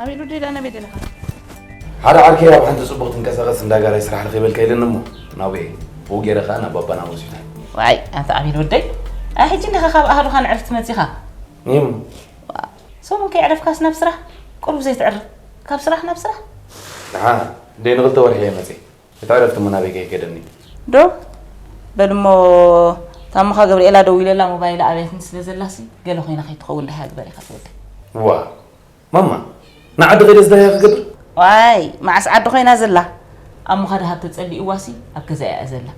ኣበይ ዶ ደላ ናበይ ደለኻ? ሓደ ዓርከይ ኣብ ሓንቲ ጽቡቕ ትንቀሳቐስ እንዳ ጋራይ ስራሕ ረኺበልካ ኢለኒ እሞ ናብኡ እየ ብኡ ገይረ ከዓ ናብ ባባ ናብ ሆስፒታል ዋይ ኣንተ ኣቤል ወደይ ኣይ ሕጂ እንዲኻ ካብ ኣህዱኻ ንዕርፍቲ መጺኻ እም ሰሙን ከይዕረፍካስ ናብ ስራሕ ቁሩብ ዘይትዕርፍ ካብ ስራሕ ናብ ስራሕ ንዓ እንደ ንኽልተ ወርሒ እየ መጺ እቲ ዕረፍቲ እሞ ናበይ ከይገደኒ ዶ በል እሞ ታምኻ ገብርኤላ ደዊለላ ሞባይላ ኣብያትኒ ስለ ዘላሲ ገለ ኮይና ከይትኸውን ደሃ ግበር ኢኻ ትወደይ ዋ ማማ ንዓዲ ከይደ ዝደለያ ክገብር ዋይ መዓስ ዓዲ ኮይና ዘላ ኣብ ምኻድሃብ ተጸሊእዋሲ ኣብ ገዛ እያ ዘላ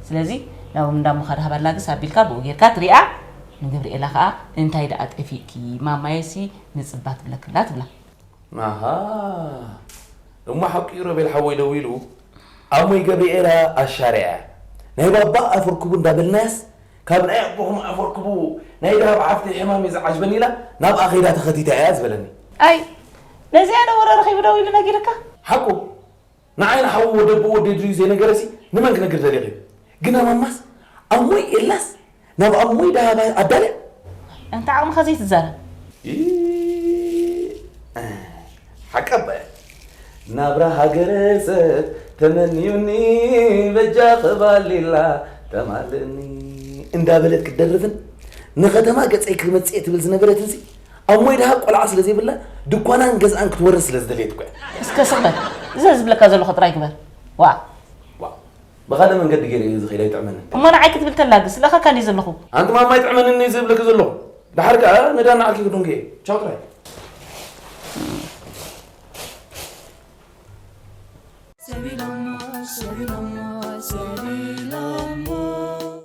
ስለዚ ናብ እንዳ ምኻድሃብ ኣላግስ ኣቢልካ ብኡ ጌርካ ትሪኣ ንገብርኤላ ከዓ እንታይ ደኣ ጠፊእኪ ማማየሲ ንጽባ ትብለክላ ትብላ ኣሃ እሞ ሓቁ እዩ ሮቤል ሓወይ ደዊሉ ኣሞይ ገብርኤላ ኣሻርያ እያ ናይ ባባ ኣፍርክቡ እንዳበልናያስ ካብ ናይ ኣቦኹም ኣፍ ኣርክቡ ናይ ደሃብ ሓፍተይ ሕማም እዩ ዝዓጅበኒ ኢላ ናብኣ ከይዳ ተኸቲታ እያ ዝበለኒ። ኣይ ነዚኣ ዶ ወረ ረኺቡ ደው ኢሉ ነጊርካ? ሓቁ ንዓይ ንሓዉ ወደቦ ወደይ ድዩ ዘይነገረሲ ንመን ክነግር ደሊኺ? ግና ማማስ ኣሞይ ኤላስ ናብ ኣሞይ ደሃብ ኣዳልያ? ኣንታ ዓቕምኻ ዘይትዛረብ። ኢእ! ሓቂ ኣባየ ናብራ ሃገረሰብ ተመንዩኒ በጃኺ ባሊላ ተማልእኒ እንዳበለት ክትደርፍን ንከተማ ገፀይ ክመፅእ ትብል ዝነበረትንሲ ኣብ ሞይ ድሃ ቆልዓ ስለ ዘይብላ ድኳናን ገዝኣን ክትወርስ ስለ ዝደለየት እኮ እያ እስከ ስቕ በል እዘ ዝብለካ ዘለኹ ጥራይ ግበር ዋእ ብካልእ መንገዲ ጌረ እየ ዝኺድ ኣይጥዕመንን። እሞ ንዓይ ክትብል ተላ ግን ስለካ ካልእ እየ ዘለኹ። ኣንቲ ማማ ኣይጥዕመንን እየ ዝብለኪ ዘለኹ ድሓር ከኣ ንዳ ንዓኪ ክዱንጊ እየ ቻው ጥራይ። ሰቢሎሞ ሰቢሎሞ ሰቢሎሞ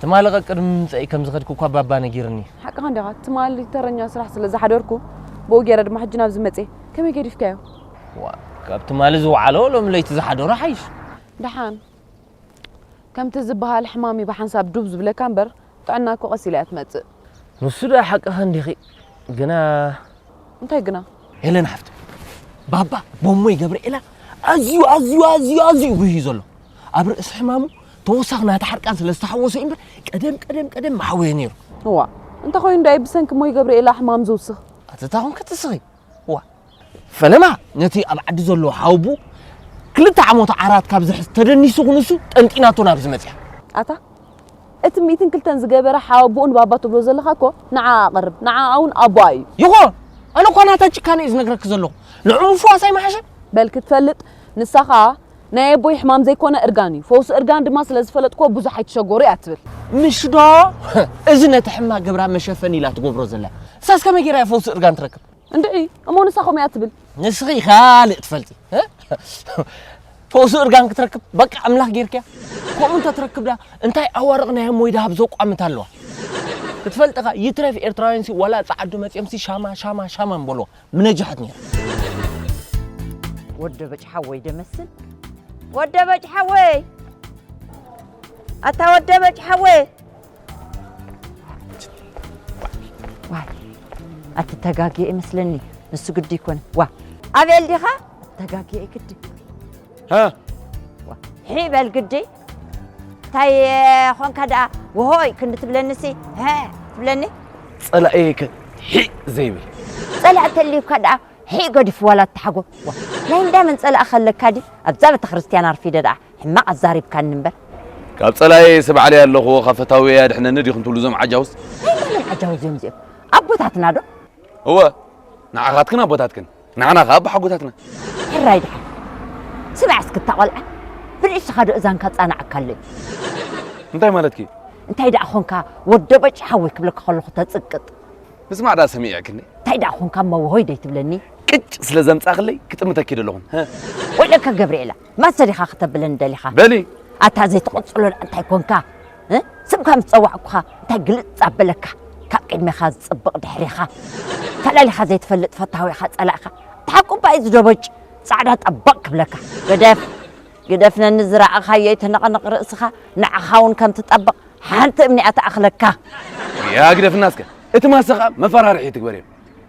ትማሊ ቀቅድሚ ምምጸእይ ከም ዝኸድኪ እኳ ባባ ነጊርኒ። ሓቅኻ እንዲኻ ትማሊ ተረኛ ስራሕ ስለ ዝሓደርኩ ብኡ ጌረ ድማ ሕጂ ናብዚ መጼ። ከመይ ገዲፍካዮ? ዋእ ካብ ትማሊ ዝወዓሎ ሎሚ ለይቲ ዝሓደሮ ሓይሽ። ደሓን ከምቲ ዝበሃል ሕማም'ዩ ብሓንሳብ ዱብ ዝብለካ እምበር ጥዕና እኮ ቀስ ኢላ እያ ትመጽእ። ንሱ ድኣ ሓቅኺ እንዲኺ ግና እንታይ ግና ሄለን ሓፍተይ ባባ ቦሞይ ገብርኤላ ኣዝዩ ኣዝዩ ኣዝዩ ኣዝዩ ጉህዩ ዘሎ ኣብ ርእሲ ሕማሙ ተወሳኺ ናቲ ሓርቃን ስለ ዝተሓወሶ እዩ እምበር ቀደም ቀደም ቀደም መሓወየ ነይሩ እዋ እንተኾይኑ ዳይ ብሰንኪ ሞይ ገብርኤላ ሕማም ዝውስኽ ኣተታ ኮንኪ ትስኺ ፈለማ ነቲ ኣብ ዓዲ ዘሎ ሓውቡ ክልተ ዓሞት ዓራት ካብ ዝሕዝ ተደኒሱ ክንሱ ጠንጢናቶ ናብዚ መፅያ ኣታ እቲ ሚእትን ክልተን ዝገበረ ሓወቦኡን ባባ ትብሎ ዘለኻ እኮ ንዓ ኣቕርብ ንዓ እውን ኣቦኣ እዩ ይኾን ኣነ እኳ ናታ ጭካነ እዩ ዝነግረኪ ዘለኹ ንዑ ምፍዋስ ኣይመሓሸን በል ክትፈልጥ ንሳ ኸኣ ናይ ኣቦይ ሕማም ዘይኮነ እርጋን እዩ ፈውሲ እርጋን ድማ ስለ ዝፈለጥክዎ ብዙሕ ኣይትሸጎሩ እያ ትብል። ምሽ ዶ እዚ ነቲ ሕማቅ ግብራ መሸፈኒ ኢላ ትገብሮ ዘላ እሳስ ከመይ ጌራ እያ ፈውሲ እርጋን ትረክብ። እንድዒ እሞ ንሳ ከምኡ እያ ትብል። ንስኺ ካልእ ትፈልጢ ፈውሲ እርጋን ክትረክብ በቃ ኣምላኽ ጌርክያ ከምኡ እንተ ትረክብ ድኣ እንታይ ኣዋርቕ ናይ ኣሞይ ደሃብ ዘቋምት ኣለዋ ክትፈልጥኻ ይትረፍ ኤርትራውያንሲ ዋላ ጸዓዱ መጺኦምሲ ሻማ ሻማ ሻማ ምበልዎ ምነጃሕት ነይሩ ወደ በጭ ሓወይ ደመስል ወደ በጭ ሓወይ ኣታ ወደ በጭ ሓወይ ዋይ ኣትተጋግየ ይመስለኒ ንሱ ግዲ ይኮነ ዋ ኣቤል ዲኻ ተጋግየ ግዲ ሒ በል ግዲ እንታይ ኾንካ ደኣ ወሆይ ክንዲ ትብለኒሲ ሀ ትብለኒ ጸላእየ ከ ሒእ ዘይብል ጸላእ ተልዩካ ደኣ ሒእ ገዲፉ ዋላ ተሓጎ ናይ እንዳመን ጸላእ ከለካ ድዩ ኣብዛ ቤተ ክርስትያን ኣርፊደ ደኣ ሕማቕ ኣዛሪብካኒ እምበር ካብ ጸላእየ ስብዓለይ ኣለኹ ካብ ፈታውየይ ኣድሕነኒ ዲኹም ትብሉ እዞም ዓጃውስ ናይ መን ዓጃው እዚኦም እዚኦም ኣቦታትና ዶ እወ ንዓኻትክን ኣቦታትክን ንዓና ከ ኣቦ ሓጎታትና ሕራይ ድሓን ስማዕ እስኪ እታ ቆልዓ ብርእስኻ ዶ እዛንካ ጻናዕካ ኣሎ እንታይ ማለትኪ እዩ እንታይ ደኣ ኾንካ ወዶ በጭ ሓወይ ክብለካ ከለኹ ተጽቅጥ ምስማዕ ደኣ ሰሚዕክኒ እንታይ ደኣ ኾንካ መወሆይ ደይትብለኒ ቅጭ ስለ ዘምጻኽለይ ክጥምተኪ ዶ ኣለኹን ወለካ ገብርኤላ ማሰ ዲኻ ክተብለኒ ደሊኻ? በሊ! ኣታ ዘይትቕጽሎ ደኣ እንታይ ኮንካ? ስምካ ምስ ጸዋዕኩኻ እንታይ ግልጽ ኣበለካ? ካብ ቅድሜኻ ዝጽብቕ ድሕሬኻ ፈላሊኻ ዘይትፈልጥ ፈታዊኻ ጸላኢኻ ብሓቁ እባ እዩ ዝደበጭ ጻዕዳ ጠበቕ ክብለካ። ግደፍ! ግደፍ! ነኒ ዝረኣኻዮ ኣይትነቕንቕ ርእስኻ ንዓኻ እውን ከም ትጠብቕ ሓንቲ እምኒ እያ ትኣኽለካ። ግያ ግደፍና እስከ! እቲ ማሰ ከኣ መፈራርሒ ትግበርዮ።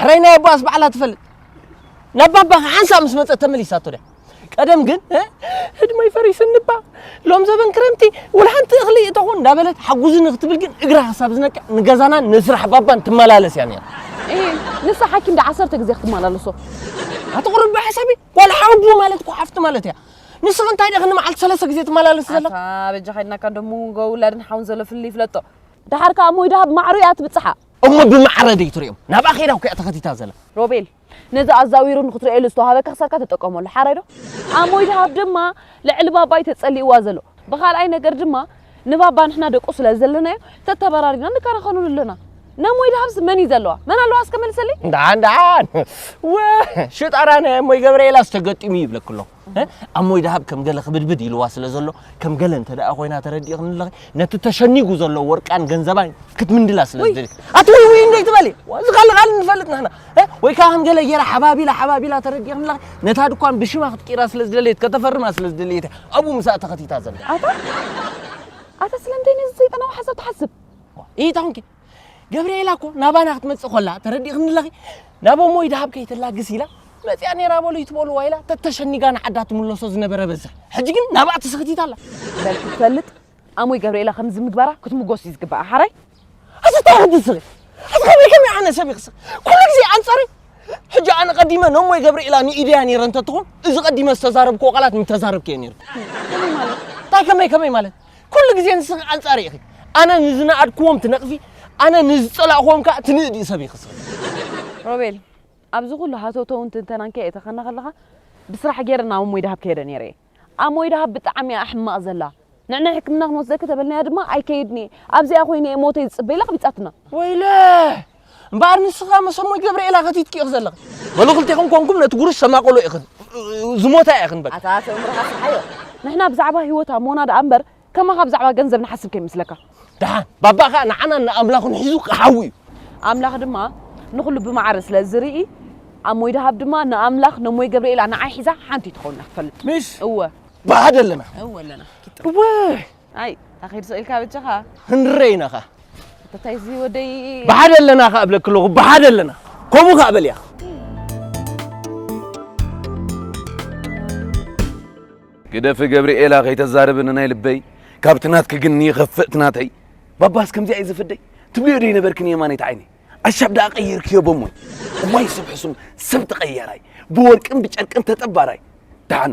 ሕራይ ናይ ኣቦኣስ ባዕላ ትፈልጥ ናብ ባባኻ ሓንሳእ ምስ መፀት ተመሊሳቶ ድያ ቀደም ግን ህድመይ ፈሪስንባ ሎም ዘበን ክረምቲ ውል ሓንቲ እኽሊ እተኾን እንዳበለት ሓጉዝኒ ክትብል ግን እግራ ክሳብ ዝነቅዕ ንገዛናን ንስራሕ ባባን ትመላለስ እያ ነራ ንሳ ሓኪም ዳ ዓሰርተ ግዜ ክትመላለሶ ኣትቕርብ ብሓሳቢ ዋላ ሓጉ ማለት እኮ ሓፍቲ ማለት እያ ንስኺ እንታይ ደኺ ንመዓልቲ ሰለስተ ግዜ ትመላለስ ዘለ በጃ ከድናካ ደሞ ጎ ውላድን ሓውን ዘሎ ፍልይ ይፍለጦ ደሓር ከዓ ሞይ ደሃብ ማዕሩ እያ ትብፅሓ እሞ ብማዕረ ደይ ትሪኦም ናብኣ ከይዳ እኮ እያ ተኸቲታ ዘላ። ሮቤል ነዚ ኣዛዊሩ ንክትርእየሉ ዝተዋሃበካ ክሳብካ ተጠቀመሉ ሓራይ ዶ? ኣሞይ ደሃብ ድማ ልዕሊ ባባ እዩ ተጸሊእዋ ዘሎ ብካልኣይ ነገር ድማ ንባባ ንሕና ደቁ ስለ ዘለናዮ ተተበራሪና ንከራኸረሉ ኣለና ነሞይ ደሃብስ መን እዩ ዘለዋ መን ኣለዋ እስከ መልሰለይ። እንዳ እንዳ ወ ሽጣራ ናይ ኣሞይ ገብርኤላስ ተገጢሙ ይብለኪ ኣለኹ። ኣሞይ ደሃብ ከም ገለ ክብድብድ ኢልዋ ስለ ዘሎ ከም ገለ እንተ ደኣ ኮይና ተረዲእኽኒ ኣለኺ ነቲ ተሸኒጉ ዘሎ ወርቃን ገንዘባን ክትምንድላ ስለ ዝደልክ ኣቲ ወይ ወይ እንደ ትበሊ እዚ ካልእ ካልእ ንፈልጥ ንሕና ወይ ከዓ ከም ገለ ጌራ ሓባቢላ ሓባቢላ ተረዲእኽኒ ኣለኺ ነታ ድኳን ብሽማ ክትቂራ ስለ ዝደለየት ከተፈርማ ስለ ዝደለየት ኣብኡ ምስኣ ተኸቲታ ዘላ ኣታ ኣታ ስለምንታይ ነዚ ሰይጣናዊ ሓሳብ ትሓስብ ኢታንኪ ገብርኤላ እኮ ናባና ክትመጽእ ኮላ ተረዲእኽኒ ኣለኺ ናብ እሞይ ደሃብ ከይተላግስ ኢላ መጽያ ነይራ በሉ ይትበልዋ ኢላ ተተሸኒጋ ንዓዳ ትምለሶ ዝነበረ በዝሕ ሕጂ ግን ናብኣ ትስኽቲት ኣላ በልኪ ትፈልጥ ኣሞይ ገብርኤላ ከምዚ ምግባራ ክትምጎስ እዩ ዝግባኣ ሓራይ ኣዚ እንታይ ክትስኺ ኣዚ ከመይ ከመይ ኣነ ሰብ ይኽስኽ ኩሉ ግዜ ኣንጻሪ ሕጂ ኣነ ቀዲመ ነሞይ ገብርኤላ ንኢደያ ነይረ እንተትኾን እዚ ቀዲመ ዝተዛረብክዎ ቃላት ምተዛረብክዮ ነይሩ እንታይ ከመይ ከመይ ማለት ኩሉ ግዜ ንስኺ ኣንጻሪ ኢኺ። ኣነ ንዝነኣድክዎም ትነቕፊ፣ ኣነ ንዝጸላእክዎም ከኣ ትንእዲ ሰብ ኢኺ ስኺ። ሮቤል ኣብዚ ኩሉ ሃተውተውን ትንተናን ከ የተኸና ከለኻ ብስራሕ ጌረ ናብ ኣሞይ ደሃብ ከይደ ኔረ ኢየ። ኣሞይ ደሃብ ብጣዕሚ ኢያ ሕማቕ ዘላ። ንዕናይ ሕክምና ክንወስደኪ ተበልናያ ድማ ኣይከይድን ኢየ። ኣብዚኣ ኮይነ ኢየ ሞተይ ዝጽበ ኢላ ኣቕቢጻትና። ወይለህ! እምበኣር ንስኻ ምስ እሙይ ገብርኤል ኣኸቲትኪ ኢኺ ዘለኺ በሉ ክልቴኹም ኮንኩም ነቲ ጉሩሽ ሰማቕሎ ኢኽን ዝሞታ ኢኽን በቃ ኣታ ኣቶ እምርኻ ስሓዮ ንሕና ብዛዕባ ህይወት ኣሞና ደኣ እምበር ከማኻ ብዛዕባ ገንዘብ ንሓስብ ከይመስለካ ደሓን ባባ ከዓ ንዓና ንኣምላኹን ሒዙ ክሓዊ እዩ ኣምላኽ ድማ ንኹሉ ብማዕረ ስለ ዝርኢ ኣሞይ ደሃብ ድማ ንኣምላኽ ነሞይ ገብርኤላ ንዓይ ሒዛ ሓንቲ ትኸውን ኢና ክትፈልጥ ምሽ እወ ባህድ ኣለና እወ ኣለና እወ ኣይ ታኺድ ሶ ኢልካ በጃኻ። ክንረይ ኢና ከኣ። ኣታ እዚ ወደይ ብሓደ ኣለና ከኣ እብለኪ ኣለኹ ብሓደ ኣለና ከምኡ ከኣ በልያ። ግደፊ ገብርኤላ ከይተዛርቢ ንናይ ልበይ ካብቲ ናትኪ ግን ይኸፍእ እቲ ናተይ ባባስ ከምዚኣ እዩ ዝፍደይ ትብልዮ ዶ ይነበርኪ ንየማነይቲ ዓይነይ ኣሻብ ደኣ ቀይርክዮ በሞይ እዋይ ሰብ ሕሱም ሰብ ተቐያራይ ብወርቅን ብጨርቅን ተጠባራይ ደሓን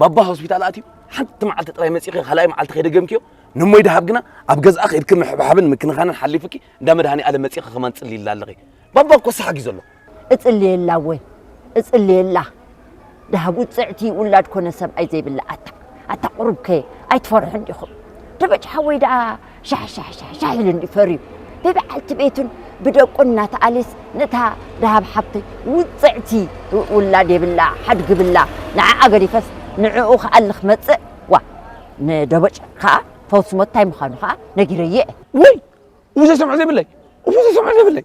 ባባ ሆስፒታል ኣትዩ ሓንቲ መዓልቲ ጥራይ መጺኺ ካልኣይ መዓልቲ ከይደገምክዮ ንሞይ ደሃብ ግና ኣብ ገዝኣ ከይድኪ ምሕብሓብን ምክንኻንን ሓሊፉኪ እንዳ መድሃኒኣለም መጺኺ ከማን ትጽልይላ ኣለኺ ባባ እኮ ሰሓጊ ዘሎ እጽልየላ እወ እጽልየላ ደሃብ ውጽዕቲ ውላድ ኮነ ሰብኣይ ዘይብላ ኣታ ኣታ ቁሩብከ ኣይትፈርሑን ዲኹም ደበጭ ሓወይ ደኣ ሻሕሻሕሻሕሻሕ ኢሉ እንድዩ ፈርዩ ብበዓልቲ ቤቱን ብደቁን እናተኣልየስ ነታ ደሃብ ሓብቲ ውጽዕቲ ውላድ የብላ ሓድጊ ብላ ንዓኣ ገዲፈስ ንዕኡ ክኣሊ ክመጽእ ዋእ ንደቦጭ ከኣ ፈውሲ ሞት ታይ ምዃኑ ከኣ ነጊረዮ እየ። ውይ እሞ ዘይሰምዖ ዘይብለይ እሞ ዘይሰምዖ ዘይብለይ።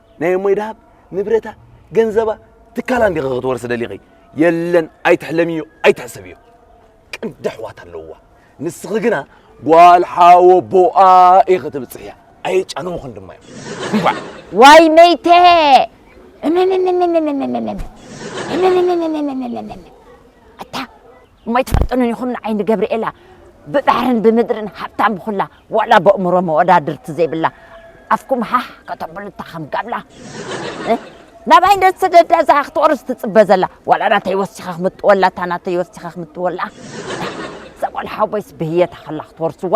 ናይ እሞይ ደሃብ ንብረታ ገንዘባ ትካላ እንዲኺ ክትወርሲ ደሊኺ የለን ኣይትሕለምዮ ኣይትሕሰብዮ ቅንዲ ኣሕዋት ኣለውዋ ንስኺ ግና ጓል ሓወቦኣ ኢኺ ትብፅሕያ ኣየጫነውኽን ድማ እዮም እንኳዕ ዋይ መይተ እታ እሞ ኣይትፈልጡንን ኢኹም ንዓይ ንገብርኤላ ብባሕርን ብምድርን ሃብታም ብኹላ ዋላ በእምሮ መወዳድርቲ ዘይብላ ኣፍኩም ሃህ ከተብሉ እታ ከም ጋብላ ናባይ እንደ ትሰደዳ እዛ ክትወርስ ትጽበ ዘላ ዋላ ናተይ ወሲኻ ክምጥወላ እታ ናተይ ወሲኻ ክምጥወላ እዛ ጓል ሓወቦይስ ብህየታ ከላ ክትወርስዋ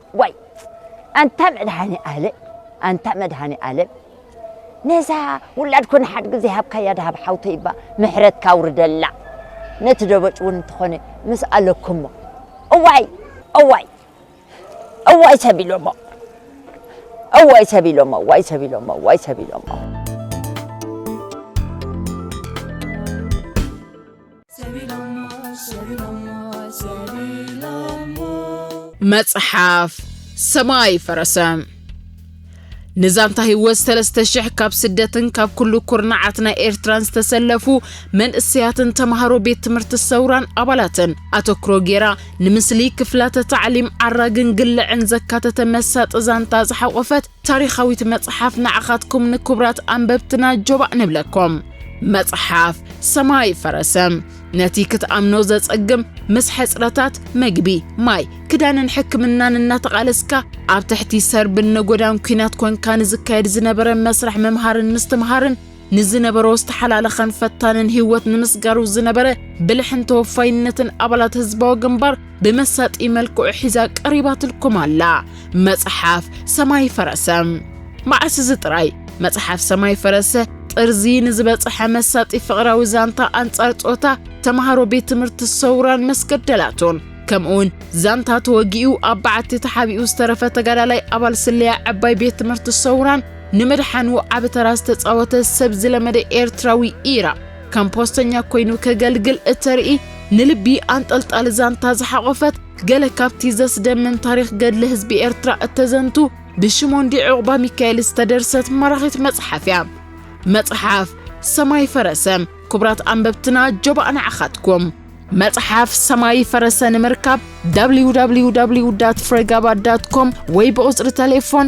ዋይ ኣንታ መድሃኒኣለም ኣንታ መድሃኒኣለም ነዛ ውላድ ኮነ ሓድጊ ዘይሃብካያ ድሃብ ሓውተይ እባ ምሕረትካ ኣውርደላ ነቲ ደበጭ እውን እንተኾነ ምስ ኣለኩሞ እዋይ እዋይ እዋይ ሰቢሎሞ እዋይ ሰቢሎሞ እዋይ ሰቢሎሞ እዋይ ሰቢሎሞ መጽሓፍ ሰማይ ፈረሰ ንዛንታ ህይወት ሰለስተ ሽሕ ካብ ስደትን ካብ ኩሉ ኩርናዓት ናይ ኤርትራን ዝተሰለፉ መንእሰያትን ተምሃሮ ቤት ትምህርቲ ሰውራን ኣባላትን ኣተክሮ ጌራ ንምስሊ ክፍላተ ታዕሊም ዓራግን ግልዕን ዘካተተ መሳጢ ዛንታ ዝሓቖፈት ታሪኻዊት መጽሓፍ ንዓኻትኩም ንክቡራት ኣንበብትና ጆባእ ንብለኩም። መጽሓፍ ሰማይ ፈረሰ ነቲ ክትኣምኖ ዘጸግም ምስ ሕጽረታት መግቢ፣ ማይ፣ ክዳንን ሕክምናን እናተቓለስካ ኣብ ትሕቲ ሰርብን ነጎዳን ኲናት ኮንካ ንዝካየድ ዝነበረ መስርሕ ምምሃርን ምስትምሃርን ንዝነበሮ ዝተሓላለኸን ፈታንን ህይወት ንምስጋሩ ዝነበረ ብልሕን ተወፋይነትን ኣባላት ህዝባዊ ግንባር ብመሳጢ መልክዑ ሒዛ ቀሪባትልኩም ኣላ መጽሓፍ ሰማይ ፈረሰ። መዓስ እዚ ጥራይ መጽሓፍ ሰማይ ፈረሰ ጥርዚ ንዝበጽሐ መሳጢ ፍቕራዊ ዛንታ ኣንጻር ጾታ ተምሃሮ ቤት ትምህርቲ ሰውራን መስገደላቱን ከምኡውን ዛንታ ተወጊኡ ኣብ በዓቲ ተሓቢኡ ዝተረፈ ተጋዳላይ ኣባል ስለያ ዕባይ ቤት ትምህርቲ ሰውራን ንምድሓኑ ዓቢ ተራ ዝተጻወተ ሰብ ዝለመደ ኤርትራዊ ኢራ ከም ፖስተኛ ኮይኑ ከገልግል እተርኢ ንልቢ ኣንጠልጣሊ ዛንታ ዝሓቖፈት ገለ ካብቲ ዘስደምም ታሪኽ ገድሊ ህዝቢ ኤርትራ እተዘንቱ ብሽሞንዲ ዑቕባ ሚካኤል ዝተደርሰት ማራኺት መጽሓፍ እያ። መጽሓፍ ሰማይ ፈረሰ ክቡራት ኣንበብትና ጆባእ ንዓኻትኩም መጽሓፍ ሰማይ ፈረሰ ንምርካብ www ፍረጋባ ኮም ወይ ብቑጽሪ ተሌፎን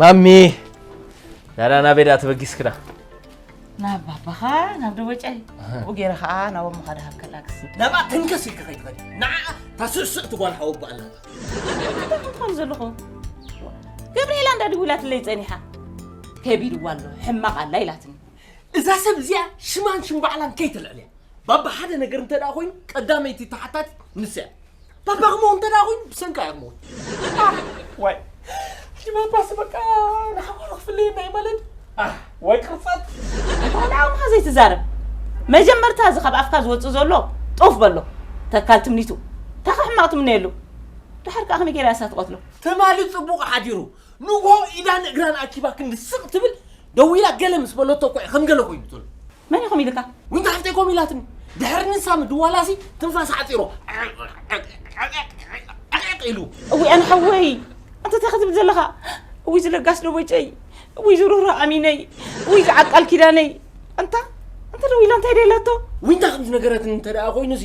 ማሚ ናዳ ናብ ቤዳ ተበጊስክና ናብ ባባኻ ናብ ደቦጫይ ብኡ ገይረ ከዓ ናብ ኣሞኻ ድሃብ ከላግስ ናብኣ ተንከስ ኢልካ ከይትኸድ ንዓ ታስስዕ ትጓል ሓወቦ ኣላ ከም ዘለኹ ገብርኤላ እንዳ ድውላትለይ ፀኒሓ ከቢድዋ ኣሎ ሕማቕ ኣላ ኢላትኒ እዛ ሰብ እዚኣ ሽማን ሽም ባዕላን ከይተልዕልያ ባባ ሓደ ነገር እንተ ደኣ ኮይኑ ቀዳመይቲ ተሓታቲ ንሳ እያ ባባ ክመው እንተ ደኣ ኮይኑ ብሰንካ እያ ክመውት ዋይ ሕጂ ባባሲ በቃ ንሓዋሩ ክፍለየና እዩ ማለት ወይ ቅርፀት ቆልዓውካ ዘይትዛረብ መጀመርታ እዚ ካብ ኣፍካ ዝወፅእ ዘሎ ጦፍ በሎ ተካል ትምኒቱ ታኻ ሕማቕ ትምነየሉ ድሓር ከዓ ከመይ ገይራ እሳ ትቐትሎ ትማሊ ፅቡቕ ሓዲሩ ንግሆ ኢዳን እግራን ኣኪባ ክንዲ ስቕ ትብል ደው ኢላ ገለ ምስ በለቶ እኳ እዩ ከም ገለ ኮይኑ ዘሎ። መን ኢኹም ኢልካ? ዊንታ ሓፍተይ ኮም ኢላትኒ ድሕሪ ንሳ ምድዋላሲ ትንፋስ ዓጺሮ ዕቕዕቕ ኢሉ እውይ ኣነ ሓወይ ኣንተ እንታይ ክትብል ዘለኻ እውይ ዝለጋስ ደቦጨይ እውይ ዝሩህሩህ ኣሚነይ እውይ ዝዓቃል ኪዳነይ ኣንታ እንተ ደው ኢላ እንታይ ደላቶ ዊንታ ከም ዝነገረትኒ እንተ ደኣ ኮይኑ እዚ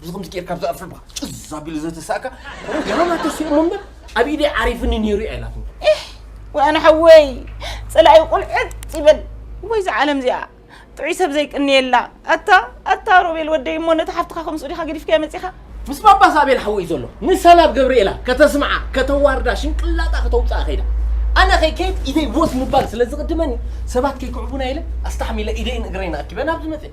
ብዚ ከምዚ ጌርካ ኣብዛ ኣፍልባ ጭዝ ኣቢሉ ዘተሳእካ ገና ተሲኡ እሞ እምበር ኣብ ኢደይ ዓሪፍኒ ነይሩ እያ ኢላትኒ ወያነ ሓወይ ፀላኢ ቁልዕት ይበል ወይ እዛ ዓለም እዚኣ ጥዑይ ሰብ ዘይቅንየላ ኣታ ኣታ ሮቤል ወደይ እሞ ነቲ ሓፍትኻ ከምስኡ ዲኻ ገዲፍካያ መፂኻ ምስ ባባ ሳቤል ሓወይ ዘሎ ንሰላብ ገብርኤላ ከተስምዓ ከተዋርዳ ሽንቅላጣ ከተውፅኣ ከይዳ ኣነ ከይከይድ ኢደይ ቦስ ምባል ስለ ዝቕድመኒ ሰባት ከይክዕቡና ኢለ ኣስታሕሚለ ኢደይን እግረይን ኣኪበ ናብዚ መፅእ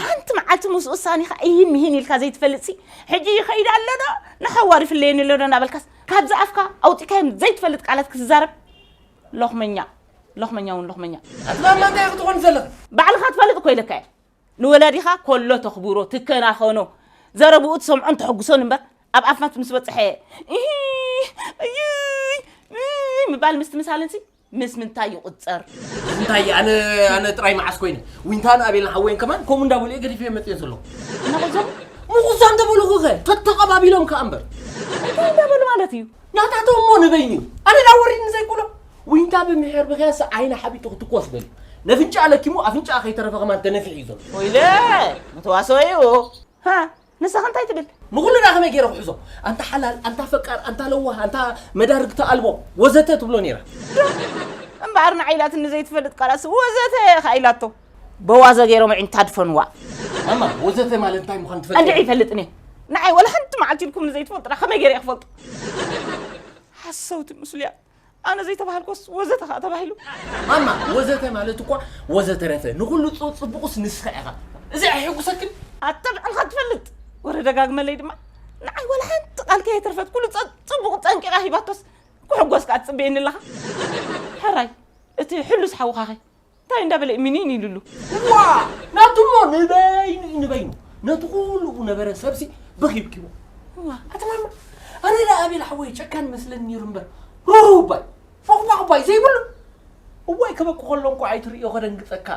ሓንቲ መዓልቲ ምስ ውሳኔኻ እሂን ምሂን ኢልካ ዘይትፈልጥሲ ሕጂ ይኸይድ ኣሎ ዶ ንሓዋሩ ይፍለየኒ ኣሎ ዶ እናበልካስ ካብዚ ኣፍካ ኣውጺእካዮም ዘይትፈልጥ ቃላት ክትዛረብ ሎኽመኛ ሎኽመኛ እውን ሎኽመኛ ዛላ እንታይ ክትኾን ዘለኽ ባዕልኻ ትፈልጥ እኮ ኢለካ እየ ንወላዲኻ ኮሎ ተኽብሮ ትከናኸኖ ዘረብኡ ትሰምዖን ተሐጉሶን እምበር ኣብ ኣፍናት ምስ በጽሐ እሂ እዩይ ምባል ምስትምሳልንሲ ምስ ምንታይ ይቑጸር? ምስ እንታይ እየ ኣነ ኣነ ጥራይ መዓስ ኮይነ ዊንታን ኣቤልን ሓወይን ከማን ከምኡ እንዳበሉ እየ ገዲፈ መፅዮ ዘለኹ ነቑዞም ምቑዛ እንተበልኹ ኸ ተተቐባቢሎም ከዓ እምበር እንታይ እንዳበሉ ማለት እዩ ናታቶም እሞ ንበይኑ እዩ ኣነ ዳ ወሪድኒ ዘይብሎ ዊንታ ብምሕር ብኸያሰ ዓይና ሓቢጡ ክትኮስ በልዩ ነፍንጫ ለኪሙ ኣፍንጫ ከይተረፈ ከማን ተነፊዑ እዩ ዘሎ ወይለ መተዋሰኦ እዩ ንስኻ እንታይ ትብል? ንኹልና ከመይ ገይረ ክሕዞ? ኣንታ ሓላል፣ ኣንታ ፈቃር፣ ኣንታ ለዋህ፣ ኣንታ መዳርግቲ ኣልቦ ወዘተ ትብሎ ነይራ። እምበኣር ንዓይ ኢላትኒ ዘይትፈልጥ ቃላትሲ ወዘተ እኻ ኢላቶ። በዋዘ ገይሮም ኣዒንታ ኣድፈንዋ። ማማ ወዘተ ማለት እንታይ ምዃኑ ትፈልጥ? እንድዒ ይፈልጥኒ ንዓይ ወላ ሓንቲ መዓልቲ ኢልኩምኒ ዘይትፈልጡና ከመይ ገይረ እየ ክፈልጦ? ሓሰውቲ ምስሉያት ኣነ ዘይተባሃልኩስ ወዘተ ከኣ ተባሂሉ። ማማ ወዘተ ማለት እኳ ወዘተረፈ ንኹሉ ጽቡቕስ ንስኻ ኢኻ። እዚ ኣየሕጉሰክን? ኣታ ንዓኻ ትፈልጥ። ወረ ደጋግመለይ ድማ ንዓይ ዋላ ሓንቲ ቃል ከየትርፈት ኩሉ ጽቡቕ ጠንቂቓ ሂባቶስ ክሕጎስ ከኣ ትጽበየኒ ኣለኻ። ሕራይ እቲ ሕሉስ ሓውኻኸ እንታይ እንዳበለ ሚኒን ኢሉሉ ዋ ናቱ እሞ ንበይኑ እዩ ንበይኑ ነቲ ኩሉ እቡ ነበረ ሰብሲ በኺብኪዎ ዋ ኣተማማ ኣነ ዳ ኣቤል ሓወይ ጨካን መስለኒ ነይሩ እምበር ሩሩ ባይ ፎቕባቕ ባይ ዘይብሉ እዋይ ከበኩ ከሎ እንኳዕ ኣይትርእዮ ከደንግጸካ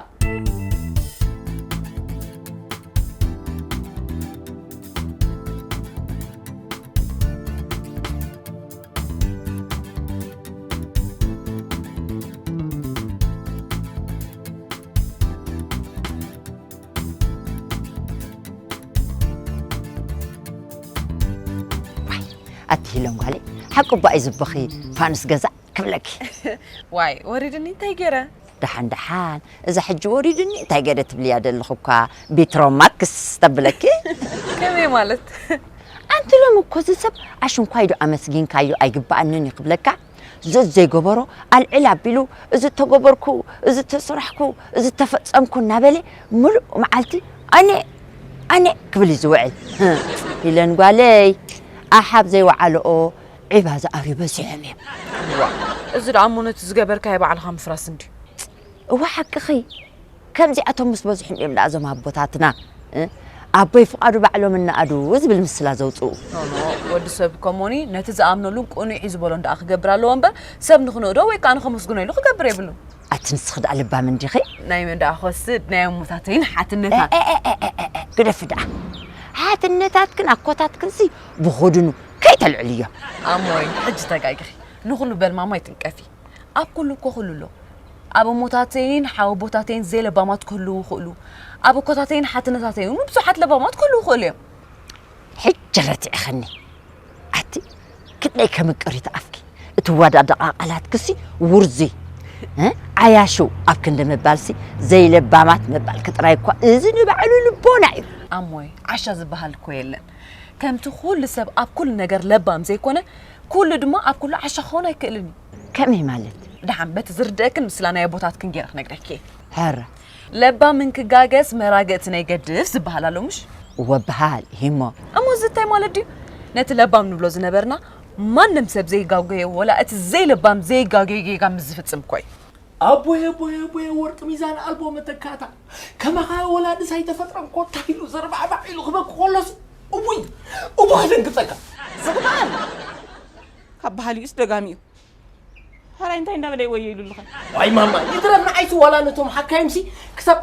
ኣትሂለን ጓለይ ሓቂ እባ እዩ ዝበኺ ፋኑስ ገዛእ ክብለኪ ዋይ ወሪድኒ እንታይ ገይረ ደሓን ደሓን እዛ ሕጂ ወሪዱኒ እንታይ ገለ ትብልያ ደለኺ እኳ ቢትሮ ማክስ ተብለኪ። ከመይ ማለት? ኣንቲ ሎሚ እኮ እዚ ሰብ ኣሽንኳይ ዶ ኣመስጊንካዮ ኣይግበኣንን እዩ ክብለካ ዘዘይገበሮ ኣልዕል ኣቢሉ እዚ ተገበርኩ እዚ ተሰራሕኩ እዚ ተፈጸምኩ እናበለ ምሉእ መዓልቲ ኣነ ኣነ ክብል እዩ ዝውዕል። ሂለን ጓለይ ኣሓ ኣብ ዘይወዓልኦ ዒባ ዝኣርዩ በዚሖም እዮም። እዋእ እዚ ደኣ እሞ ነቲ ዝገበርካዮ ባዕልኻ ምፍራስ እንድዩ። እወ ሓቅኺ ከምዚኣቶም ምስ በዝሑም እዮም ደኣ እዞም ኣቦታትና ኣቦይ ፍቃዱ ባዕሎም እናኣዱ ዝብል ምስላ ዘውጽኡ። ኖኖ ወዲ ሰብ ከሞኒ ነቲ ዝኣምነሉን ቅኑዕ እዩ ዝበሎን ደኣ ክገብር ኣለዎ እምበር ሰብ ንኽንእዶ ወይ ከኣ ንኸመስግኖ ኢሉ ክገብር የብሉን። ኣቲ ንስኺ ደኣ ልባም እንዲኺ። ናይ መን ደኣ ክወስድ ናይ ኣሞታተይን ሓትነታት። ግደፊ ደኣ ሓትነታትክን ኣኮታትክንሲ ብኹድኑ ከይተልዕልዮ። ኣሞይ ሕጂ ተጋጊኺ ንኹሉ በልማሞ ኣይትንቀፊ ኣብ ኩሉ እኮ ኩሉ ኣሎ ኣብ እሞታተይን ሓወቦታተይን ዘይለባማት ክህልዉ ይኽእሉ ኣብ እኮታተይን ሓትነታተይን እውን ብዙሓት ለባማት ክህልዉ ይኽእሉ እዮም ሕጂ ረቲዕኸኒ ኣቲ ክንደይ ከምቅሪት ኣፍኪ እትወዳደቓ ቃላትክሲ ውርዙይ ዓያሹ ኣብ ክንዲ ምባልሲ ዘይለባማት ምባልኪ ጥራይ እኳ እዚ ንባዕሉ ልቦና እዩ ኣሞይ ዓሻ ዝበሃል እኮ የለን ከምቲ ኩሉ ሰብ ኣብ ኩሉ ነገር ለባም ዘይኮነ ኩሉ ድማ ኣብ ኩሉ ዓሻ ክኸውን ኣይክእልን እዩ። ከመይ ማለት? ደሓን በቲ ዝርደእክን ምስላ ናይ ኣቦታትክን ጌረ ክነግረኪ እየ። ሀረ። ለባም እንክጋገስ መራግእቲ ናይ ገድፍ ዝበሃል ኣሎ ምሽ? እወ በሃል እዩሞ። እሞ እዚ እንታይ ማለት ድዩ? ነቲ ለባም ንብሎ ዝነበርና ማንም ሰብ ዘይጋጎዮ ወላ እቲ ዘይለባም ዘይጋጎዮ ጌጋ ምስ ዝፍጽም እኮ እዩ። ኣቦየ ኣቦየ ኣቦየ ወርቂ ሚዛን ኣልቦ መተካእታ። ከማኻ ወላድስ ኣይተፈጥረን ኮታ ኢሉ ዘርባዕባዕ ኢሉ ክበኪ ከሎስ እውይ እኮ ከደንግጸካ። ዝኽኣል ካብ በሃሊኡስ ደጋሚ እዩ። ሐራይ እንታይ እንዳበለ እዩ ወዮ ኢሉልኸ? ዋይ ማማ ይትረፍ ንዓይሲ ዋላ ነቶም ሓካይምሲ ክሳብ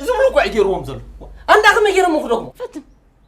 ዝብሉ እኮ እዩ ገይርዎም ዘሎ ኣንዳ ከመይ ገይሮም ክደግሞ ፈትን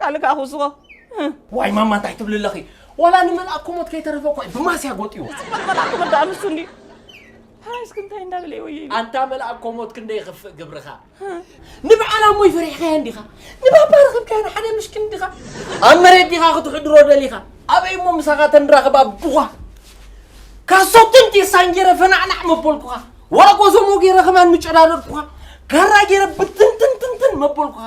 ካልእ ከኣ ክውስኾ ዋይ ማማ እንታይ ትብሊ ኣለኺ ዋላ ንመልኣክ ኮሞት ከይተረፈ እኳ እዩ ብማስያ ጎጥዩ ጽባሕ መልኣክ ክብል ደኣ ንሱ እንድዩ ፓራይስክ እንታይ እንዳበለ እዩ ወየ ኢሉ ኣንታ መልኣክ ኮሞት ክንደይ ይኽፍእ ግብርኻ ንበዓል ኣሞይ ፈሪሕካዮ እንዲኻ ንባባ ረኽብካዮ ንሓደ ምሽኪን እንዲኻ ኣብ መሬት ዲኻ ክትሕድሮ ደሊኻ ኣበይ እሞ ምሳኻ ተንራኽብ ኣቡኻ ካሶትን ቴሳን ገይረ ፈናዕናዕ መበልኩኻ ዋላ ጎዞሞ ገይረ ከማን ምጨዳደድኩኻ ካራ ገይረ ብትንትንትንትን መበልኩኻ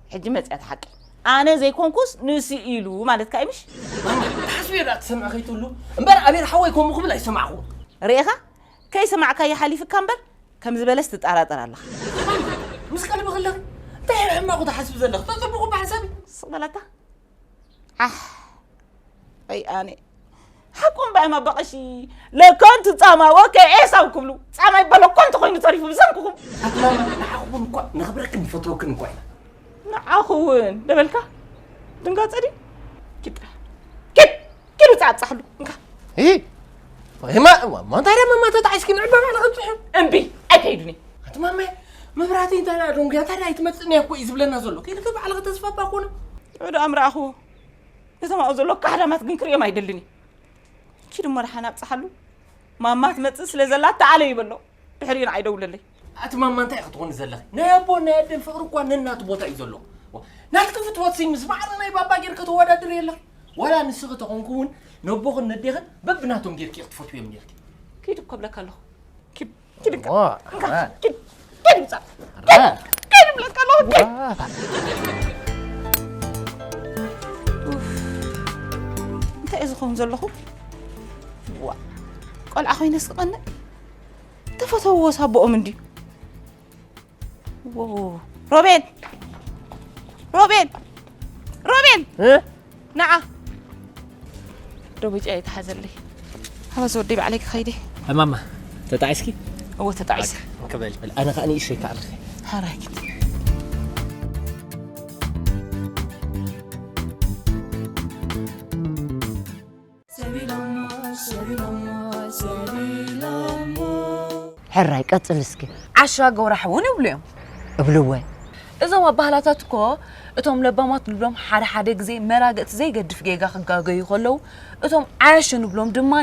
ሕጂ መጽያ እቲ ሓቂ ኣነ ዘይኮንኩስ ንሱ ኢሉ ማለት ከኣ ምሽ ሓስቢ ዳ ትሰምዕ ከይትህሉ እምበር ኣቤል ሓወይ ከምኡ ክብል ኣይሰማዕኩ ርኤኻ ከይሰማዕካ ይሓሊፍካ እምበር ከም ዝበለስ ትጠራጠር ኣለኻ ምስ ቀልቢ ከለኺ እንታይ ሕማቑ ትሓስቢ ዘለኺ ተጽቡቑ ብሓሳብ ስቕ በላታ ዓሕ ኣይ ኣነ ሓቁም ባይ ማበቐሺ ለከንቱ ጻማ ወከ ኤሳው ክብሉ ጻማ ይበሎ ኮንቱ ኮይኑ ተሪፉ ብሰንኩኹም ንዓኹም እኳ ነኽብረክን ንፈትወክን እኳ ኢና ንዓኹ እውን ደበልካ ድንጋጸ ድዩ ኪድ ኪድ ኪዱ ጻጻሕሉ እንካ ይ ወይማ ማታዳ መማቶ ተዓሽኪ ንዕባ ባዕላ ክንጽሑ እምቢ ኣይከይዱኒ ኣቲ ማመ መብራህቲ እንታይ ደኣ ደንጉያ እንታይ ደኣ ኣይትመጽእን እያ እኮ እዩ ዝብለና ዘሎ ከይድከ ባዕልኸ ተስፋ እባ ኮነ ንዑ ደኣ ምረኣኽዎ እቶም ኣብኡ ዘሎ ካሕዳማት ግን ክርእዮም ኣይደልን እዩ ኪዱ መርሓን ኣብጽሓሉ ማማ ትመጽእ ስለ ዘላ ተኣለዩ በሎ ድሕሪኡ ንዓይ ደውለለይ ኣቲ ማማ እንታይ ክትኾኒ ዘለኺ ናይ ኣቦን ናይ ኣደን ፍቕሪ እኳ ነናቱ ቦታ እዩ ዘሎ ናትኪ ፍትወት ሲ ምስ ማዕረ ናይ ባባ ጌርኪ ተወዳድር የለኺ ዋላ ንስኺ ተኾንኩ እውን ነቦኽን ነዴኽን በብናቶም ጌርኪ ክትፈትውዮም ኔርኪ ኪድ እኮ ብለካ ኣለኹ ኪድ ኪድ ኪድ ኪድ ብለካ ኣለኹ እንታይ እዩ ዝኾን ዘለኹ ዋ ቆልዓ ኮይነስ ክቐንዕ ተፈተውዎ ሳቦኦም እንድዩ ሮቤል ሮቤል ሮቤል ንዓ ደቡጭያ ይተሓዘለይ ኣበዚ ወደይ ባዕለይ ክኸይደ እማማ ተጣዒስኪ እዎ ተጣዒሰ ክበል ኣነ ከዓ ንእሸይ ከዓ ሃራኪት ሕራይ ቀጽል እስኪ። ዓሻ ጎራሕ እውን ይብሉ እዮም። እብልወ። እዞም ኣባህላታት እኮ እቶም ለባማት ንብሎም ሓደ ሓደ ግዜ መራገጽ ዘይገድፍ ጌጋ ክጋገዩ ከለዉ እቶም ዓያሹ ንብሎም ድማ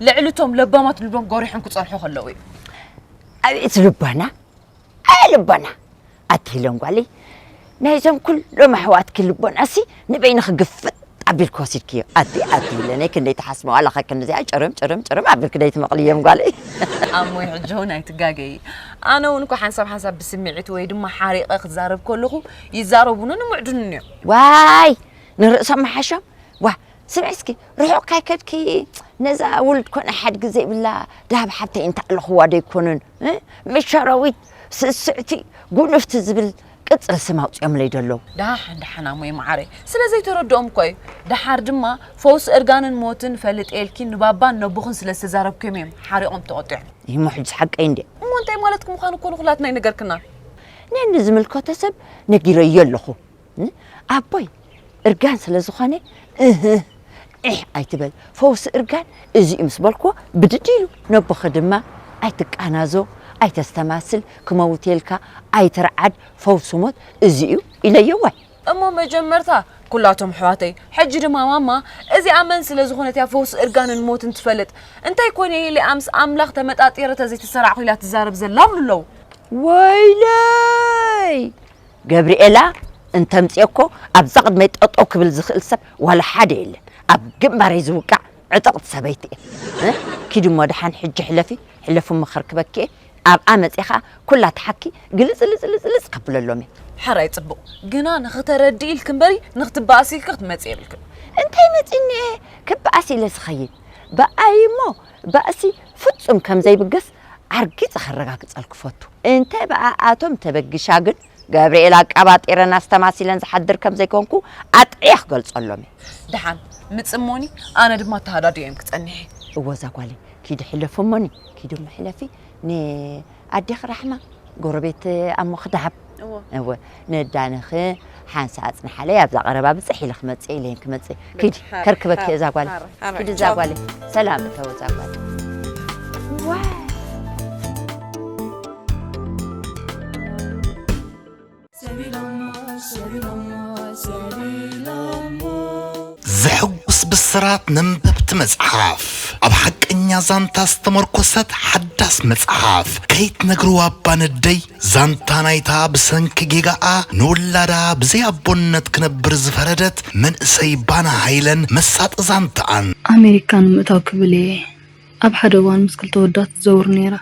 ልዕሊ እቶም ለባማት ንብሎም ጎሪሖም ክጸንሑ ከለዉ እዩ። ኣቤት ልቦና! ኣየ ልቦና! ኣቲ ሂለን ጓለይ ናይዞም ኩሎም ኣሕዋትኪ ልቦናሲ ንበይንኺ ግፍጥ ኣቢልኪ ወሲድክዮ ኣቲ ኣቲ ሂለነይ ክንደይ ትሓስመው ኣለኸ ክንዲዚኣ ጭርም ጭርም ጭርም ኣቢልኪ ደይትመቕልዮም ጓለይ ኣሞይ ሕጂ ውን ኣይትጋገዪ ኣነ ውን እኮ ሓንሳብ ሓንሳብ ብስምዒት ወይ ድማ ሓሪቐ ክዛረብ ከለኹ ይዛረቡንን ይምዕዱንን እዮም ዋይ ንርእሶም ምሓሾም ዋ ስምዒ እስኪ ርሑቕ ካይከድኪ ነዛ ውሉድ ኮነ ሓድጊ ዘይብላ ደሃብ ሓብተይ እንተኣለኹዋ ደይኮኑን ን መሻራዊት ስስዕቲ ጉንፍቲ ዝብል ቅጽል ስም ኣውጺኦምለይ ዶ ኣለው። ዳሕ ዳሓን ኣሞይ ማዓረይ ስለ ዘይተረድኦም እኮ እዩ ዳሓር ድማ ፈውሲ እርጋንን ሞትን ፈልጥ ኢልኪ ንባባን ነቦኽን ስለ ዝተዛረብክዮም እዮም ሓሪቆም ተቆጢዖም። እሞ ሕጅስ ሓቀይ እንድየ። እሞ እንታይ ማለትኪ ምዃኑ እኮ ንኹላትና ኣይነገርክናን። ነንዝምልከቶ ሰብ ነጊረዮ ኣለኹ። ን ኣቦይ እርጋን ስለ ዝኾነ እህህ ዒሕ ኣይትበል ፈውሲ እርጋን እዚ'ዩ ምስ በልክዎ ብድድ ኢሉ። ነቦኺ ድማ ኣይትቃናዞ ኣይተስተማስል ክመውት'የ ኢልካ ኣይትርዓድ ፈውሲ ሞት እዚ'ዩ ኢለዮ ዋይ። እሞ መጀመርታ ኩላቶም ኣሕዋተይ ሕጂ ድማ ማማ እዚኣ መን ስለ ዝኾነት'ያ ፈውሲ እርጋንን ሞትን ትፈልጥ እንታይ ኮን'የ ኢለ'ያ ምስ ኣምላኽ ተመጣጢረ ተዘይተሰራዕኩ ኢላ ትዛረብ ዘላ ኣብሉ'ለዉ። ወይለይ! ገብሪኤላ እንተምፅኦኮ ኣብዛ ቅድመይ ጠጠው ክብል ዝኽእል ሰብ ዋላ ሓደ የለን ኣብ ግንባረይ ዝውቃዕ ዕጥቕቲ ሰበይቲ እየ እ ኪዲ እሞ ደሓን ሕጂ ሕለፊ ሕለፊ እሞ ከርክበኪ እየ ኣብኣ መፅየ ከዓ ኩላ ትሓኪ ግልፅልፅልፅልፅ ከብለሎም እየ ሐራይ ፅቡቕ ግና ንኽተረድኢ ኢልኪ እምበሪ ንኽትበኣሲ ኢልኪ ክትመፂ የብልክን እንታይ መፂኒ እየ ክበኣስ ኢለ ዝኸይድ በኣይ እሞ ባእሲ ፍፁም ከምዘይብገስ ኣርጊጸ ከረጋግጸልክ እፈቱ። እንተ ብኣኣቶም ተበጊሻ ግን፣ ገብርኤል ኣቃባጢረን ኣስተማሲለን ዝሓድር ከም ዘይኮንኩ ኣጥዕየ ክገልጸሎም እየ። ደሓን ምጽሞኒ፣ ኣነ ድማ ተሃዳዲኤም ክጸንሕ እየ። እወ እዛ ጓለይ፣ ኪዲ ሕለፍሞኒ፣ ኪዲ እሞ ሕለፊ፣ ንኣዴኺ ራሕማ፣ ጎረቤት ኣሞኺ ደሃብ። እዎ እወ ነዳነኺ ሓንሳእ ኣጽንሓለይ ኣብዛ ቀረባ ብጽሕ ኢለ ክመጽእ ኢለይን ክመጽእ ኪዲ ብጽሕ፣ ሃር፣ ከርክበኪ ሃር፣ እዛ ጓል ሃር፣ ሃር፣ ኪዲ እዛ ቻው። ጓል ሰላም እተው እዛ ጓል ዘሕጉስ ብስራት ነንበብቲ መጽሓፍ ኣብ ሓቀኛ ዛንታ ዝተመርኮሰት ሓዳስ መጽሓፍ ከይትነግርዋ ኣባ ነደይ ዛንታ ናይታ ብሰንኪ ጌጋኣ ንውላዳ ብዘይ ኣቦነት ክነብር ዝፈረደት መንእሰይ ባና ሃይለን መሳጢ ዛንታኣን። ኣመሪካ ንምእታው ክብል እየ ኣብ ሓደ እዋን ምስ ክልተ ወዳት ዝዘውር ነይረ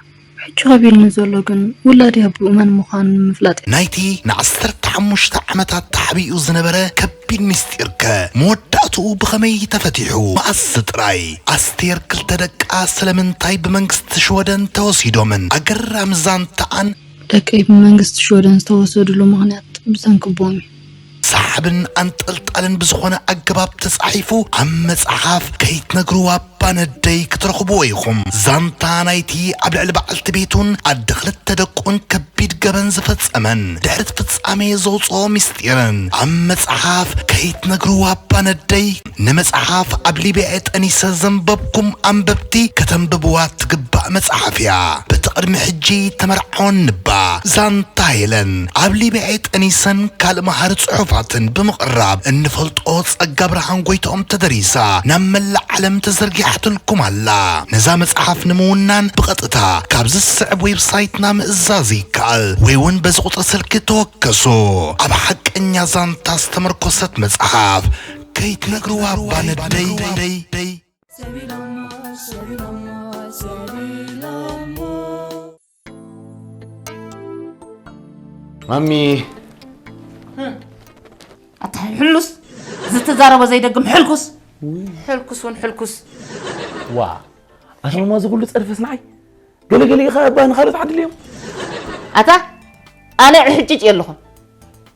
ሕጂ ከቢድኒ ዘሎ ግን ውላደይ ኣቡኡ መን ምዃኑ ንምፍላጥ እዩ። ናይቲ ንዓሰርተ ሓሙሽተ ዓመታት ተሓቢኡ ዝነበረ ቢግ ሚስጢር ከ መወዳእትኡ ብኸመይ ተፈቲሑ? መኣስ ጥራይ? ኣስቴር ክልተ ደቃ ስለምንታይ ብመንግስቲ ሽወደን ተወሲዶምን? ኣገራሚ ዛንታኣን። ደቀይ ብመንግስቲ ሽወደን ዝተወሰድሉ ምኽንያት ብሰንኪ ቦምብ እዩ። ሰሓብን ኣንጠልጣልን ብዝኾነ ኣገባብ ተጻሒፉ ኣብ መጽሓፍ ከይትነግርዋ ኣባ ነደይ ክትረኽብዎ ኢኹም። ዛንታ ናይቲ ኣብ ልዕሊ በዓልቲ ቤቱን ኣደ ክልተ ደቁን ከቢድ ገበን ዝፈጸመን ድሕሪ'ቲ ፍጻሜ ዘውጽኦ ምስጢርን ኣብ መጽሓፍ ከይትነግሩ ኣባ ነደይ ንመጽሓፍ ኣብ ሊብያ'የ ጠኒሰ ዘንበብኩም ኣንበብቲ ከተንብብዋ እትግባእ መጽሓፍ'ያ በቲ ቅድሚ ሕጂ ተመርዓወኒ እባ ዛንታ ሄለን ኣብ ሊብያ'የ ጠኒሰን ካልእ መሃሪ ጽሑፋትን ብምቕራብ እንፈልጦ ጸጋብርሃን ጎይትኦም ተደሪሳ ናብ መላእ ዓለም ተዘርጊሓትልኩም ኣላ። ነዛ መጽሓፍ ንምውናን ብቐጥታ ካብዚ ዝስዕብ ዌብሳይትና ምእዛዝ ይከኣል ወይ'ውን በዚ ቁጽሪ ስልኪ ተወከሱ። ኣብ ሓቀኛ ዛንታ ዝተመርኮሰት መጽሓፍ ከይትነግርዋ እባ ነደይ። ማሚ ኣታ ሕሉስ ዝተዛረቦ ዘይደግም ሕልኩስ ሕልኩስ እውን ሕልኩስ ዋ ኣነ እሞ እዚ ኩሉ ፀርፍስ ንዓይ ገለገለ ኢኻ እባ ንካልኦት ዓድልዮም ኣታ ኣነ ዕሕጭጭ እየ ኣለኹ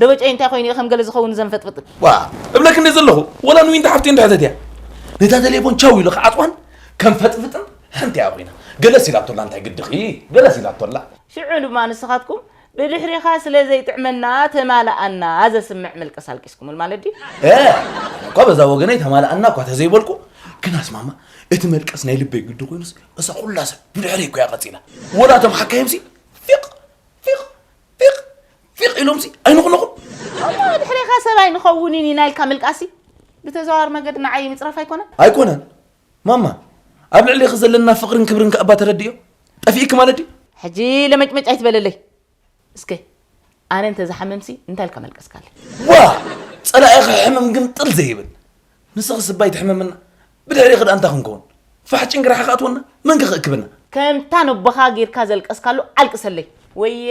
ደበጨይ እንታይ ኮይኑ ከም ገለ ዝኸውን ዘንፈጥፍጥ ዋ እብለክ እንደ ዘለኹ ወላ ንዊንታ ሓፍቲ እንድሕተት እያ ነታ ተሌፎን ቻው ኢሉ ክዓፅዋን ከም ፈጥፍጥን ሓንቲ እያ ኮይና ገለስ ኢላቶላ እንታይ ግድኺ ገለስ ኢላቶላ ሽዑ ድማ ንስኻትኩም ብድሕሪኻ ስለ ዘይጥዕመና ተማልኣና ዘስምዕ ምልቅስ ኣልቂስኩምል ማለት ድዩ እኳ በዛ ወገነይ ተማልኣና እኳ ተዘይበልኩ ግናስ ማማ እቲ መልቀስ ናይ ልበይ ግዲ ኮይኑስ እዛ ኩላ ሰብ ብድሕሪ እኮ እያ ቀፂላ ወላ እቶም ሓካይምሲ ፊቕ ፊቕ ፊቕ ፊቕ ኢሎምሲ ኣይንኹንኹም እሞ ድሕሬኻ ሰብ ኣይንኸውንን ኢና ኢልካ ምልቃሲ ብተዘዋዋሪ መገዲ ንዓይ ምፅራፍ ኣይኮነን ኣይኮነን ማማ ኣብ ልዕሌኺ ዘለና ፍቕርን ክብርን ከኣ እባ ተረድዮ ጠፊእኪ ማለት ድዩ ሕጂ ለመጭመጭ ኣይትበለለይ እስከ ኣነ እንተዝሓምምሲ እንታይ ኢልካ መልቀስካለይ ዋ ፀላኢ ክሕምም ግን ጥል ዘይብል ንስኺስ እባ ኣይትሕመምና ብድሕሬኺ ድኣ እንታይ ክንከውን ፋሕ ጭንግራሕ ክኣትወና መን ከ ክእክበና። ከምታ ነቦኻ ጌርካ ዘልቀስካሉ ኣልቅሰለይ ወየ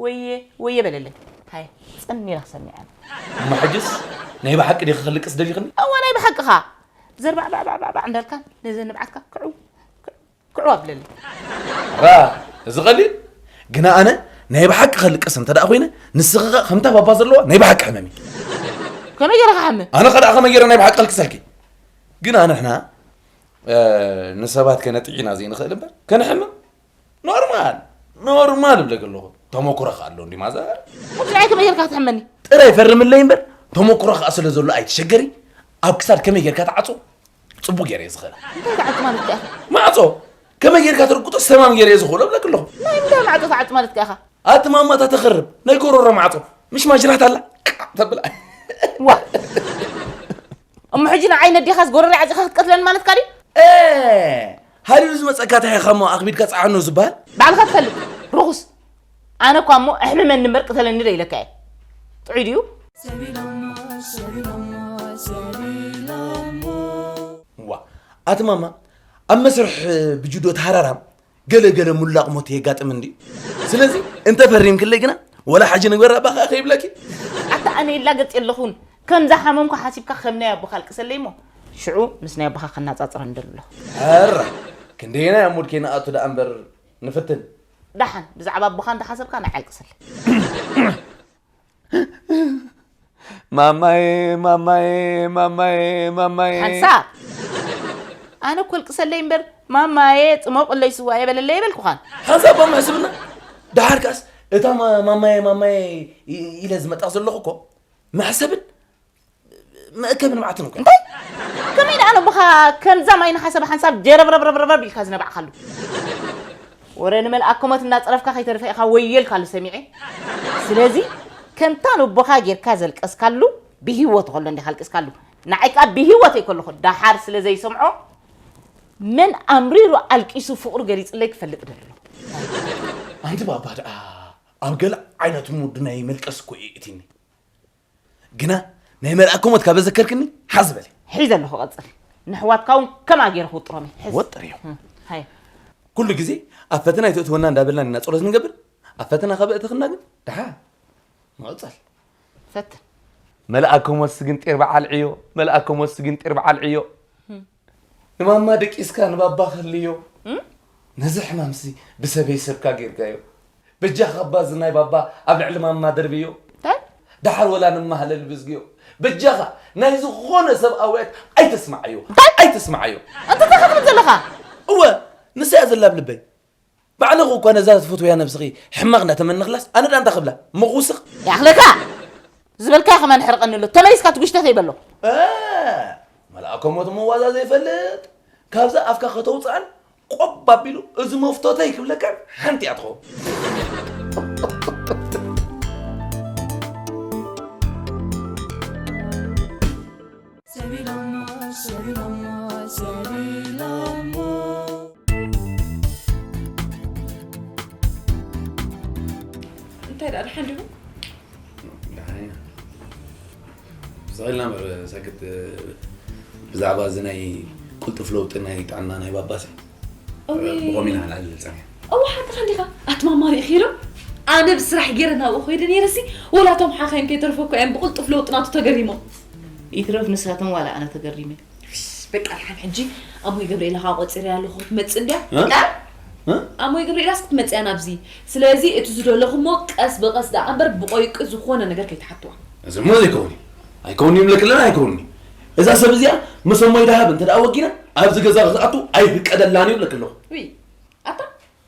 ወየ ወየ በለለይ ሃየ ጽን ኢለ ክሰምዕ እየ። እሞ ሕጅስ ናይ ብሓቂ ዲኺ ክልቅስ ደሊኽኒ? እወ ናይ ብሓቅኻ ዘርባዕባዕባዕባዕ እንዳልካ ነዘን ንብዓትካ ክዕው ክዑ ኣብለለይ ራ እዚ ቀሊል ግና ኣነ ናይ ብሓቂ ከልቅስ እንተ ደኣ ኮይነ ንስኺ ከ ከምታ ባባ ዘለዋ ናይ ብሓቂ ሕመም እዩ ከመይ ገይረ ክሓምም ኣነ ከ ደኣ ከመይ ገይረ ናይ ብሓቂ ከልቅሰልኪ ግና ንሕና እ፣ ንሰባት ከነጥዒና ዘይንኽእል እምበር ከንሕምም ኖርማል ኖርማል እብለኪ ኣለኹ ተመኩሮ ከ ኣሎ እንዲ ማዘር ሕጂ ንዓይ ከመይ ገይርካ ክትሕመኒ ጥራይ ፈርምለይ እምበር ተመኩሮ ከኣ ስለ ዘሎ ኣይትሸገሪ ኣብ ክሳድ ከመይ ጌርካ ትዓጾ ጽቡቅ ጌረ እየ ዝኽእል እንታይ ትዓጽ ማለት ከ ኢኻ ማዕጾ ከመይ ጌርካ ትርግጦ ሰማም ጌረ እየ ዝኽእሎ እብለክ ኣለኹ ናይ እንታይ ማዕጾ ትዓጽ ማለት ከ ኢኻ ኣቲ ማማታ ተኽርብ ናይ ጎሮሮ ማዕጾ ምሽ ማጅራት ኣላ ቃዕ ተብላ ዋ እሞ ሕጂ ንዓይ ነዴኻ ዝጎረረ ዓጺኻ ክትቀትለኒ ማለትካ ድዩ እ ሃሊሉ ዝመጸካ ታይኻሞ ኣኽቢድካ ጸዓኖ ዝበሃል ባዕልካ ትፈልጥ ርኹስ ኣነ እኳ እሞ ኣሕምመኒ እምበር ቅተለኒ ዶ ኢለካ እየ። ጥዑይ ድዩ? እዋ ኣቲ ማማ ኣብ መስርሕ ብጁዶ ተሃራራም ገለ ገለ ሙላቕ ሞት የጋጥም እንዲ ስለዚ እንተ ፈሪምክለይ ግና ወላ ሓጂ ንግበራ እባ ከኣ ከይብለኪ ኣታ ኣነ ይላገጽ የለኹን ከምዛ ሓመምኩ ሓሲብካ ከም ናይ ኣቦኻ ኣልቅሰለይ እሞ ሽዑ ምስ ናይ ኣቦኻ ከናጻጽረ ንደሊ ኣለኹ። ኣራ ክንደየናይ ኣብ ሙድ ከይንኣቱ ደኣ እምበር ንፍትን ዳሓን ብዛዕባ ኣቦኻ እንዳሓሰብካ ንዓይ ኣልቅሰለይ። ማማየ ማማየ ማማየ ማማየ ሓንሳብ ኣነ እኮ ኣልቅሰለይ እምበር ማማየ ጽሞቕለይ ስዋ የበለለይ የበልኩኻን። ሓንሳብ እባ ምሕስብና ዳሓር ከኣስ እታ ማ- ማማየ ማማየ ኢ- ኢለ ዝመጣ ዘለኹ እኮ መሕሰብን መእከቢ ንብዓት ነው። እንታይ ከመይ ደኣ ነው ብኻ ከምዛ ማይ ንሓሰብ ሓንሳብ ጀረብረብረብረብ ኢልካ ዝነባዕካሉ ወረ ንመልኣ ኮመት እናፀረፍካ ከይተርፈ ኢኻ ወየልካሉ ሰሚዐ ስለዚ ከምታ ንቦኻ ጌርካ ዘልቀስካሉ ብሂወት ከሎ እንዲኻ ኣልቅስካሉ ንዓይ ከዓ ብሂወተይ ከለኹ ዳሓር ስለ ዘይሰምዖ መን ኣምሪሩ ኣልቂሱ ፍቕሩ ገሊፅለይ ክፈልጥ ደሎ ኣንቲ ባባ ደኣ ኣብ ገለ ዓይነት ሙድ ናይ መልቀስ እኮ እዩ እትኒ ግና ናይ መርኣኮ ሞት ካብ ዘዘከርክኒ ሓዝ በለ ሒዘ ኣለኹ ቀፅል ንሕዋትካ እውን ከምኣ ገይረ ክውጥሮም እዩ ሕዝ ወጥር እዩ እም፣ ሃየ ኩሉ ግዜ ኣብ ፈተና ኣይተእትወና እንዳበልና ኢና ጸሎት ንገብር ኣብ ፈተና ካብ እእተኽና ግን ድሓ ንቕጸል ፈትን መልኣከ ሞት ስግንጢር በዓል ዕዮ መልኣከ ሞት ስግንጢር በዓል ዕዮ ንማማ ደቂስካ ንባባ ክህልዮ ነዚ ሕማምሲ ብሰበይ ሰብካ ጌርካዮ በጃኻ እባ እዚ ናይ ባባ ኣብ ልዕሊ ማማ ደርብዮ እንታይ ደሓር ወላ ንመሃለል ብዝግዮ በጃኻ ናይ ዝኾነ ሰብ ኣውያት ኣይተስምዓዮ እንታይ ኣይተስምዓዮ እንታይ እንታይ ክትብል ዘለኻ እወ ንሳ እያ ዘላ ኣብ ልበይ ባዕልኺ እኳ ነዛ ትፍትውያ ነብስኺ ሕማቕ እንዳተመነኽላስ ኣነ ድኣ እንታይ ክብላ ምኽውስኽ። ይኣኽለካ! ዝበልካዮ ከማን ሕርቐኒ ኣሎ ተመሊስካ ትጉሽተተይ በሎ። ኣእ! መልኣከ ሞት እሞ ዋዛ ዘይፈልጥ ካብዛ ኣፍካ ከተውጽኣን ቆብ ኣቢሉ እዚ መፍቶተይ ክብለካን ሓንቲ እያ ትኸውን። እንታይ ደኣ ደሓን ዲኹም? ደሓን ኢና ብዝሕ ኢልና እምበር ሰክት ብዛዕባ እዚ ናይ ቅልጡፍ ለውጢ ናይ ጥዕና ናይ ባባሲ ብኸምኡ ኢና ሓላል ንፀንሕ እወ ሓቅኻ እንዲኻ ኣቲ ማማ ርኢኺ ዶ ኣነ ብስራሕ ገይረ ናብኡ ኮይደ ነይረሲ ወላ እቶም ሓኻይም ከይተርፎ እኮ እዮም ብቕልጡፍ ለውጢ ናቱ ተገሪሞም ይትረፍ ንሳቶም ዋላ ኣነ ተገሪመ በቃ ልሓን ሕጂ ኣሞይ ገብርኤላ ከዓ ቆፂረ ኣለኹ ክትመፅእ እንድያ ኣሞይ ገብርኤላስ ክትመፅ እያ ናብዚ ስለዚ እቲ ዝደለኹሞ ቀስ ብቐስ ደኣ እምበር ብቆይቂ ዝኾነ ነገር ከይትሓትዋ እዚ እሞ ዘይከውን እዩ ኣይከውን እዩ ይብለክለና ኣይከውን እዩ እዛ ሰብ እዚኣ ምስ እሞይ ደሃብ እንተ ወጊና ኣብዚ ገዛ ክትኣቱ ኣይፍቀደላን እዩ እብለኪ ኣለኹ። ውይ ኣታ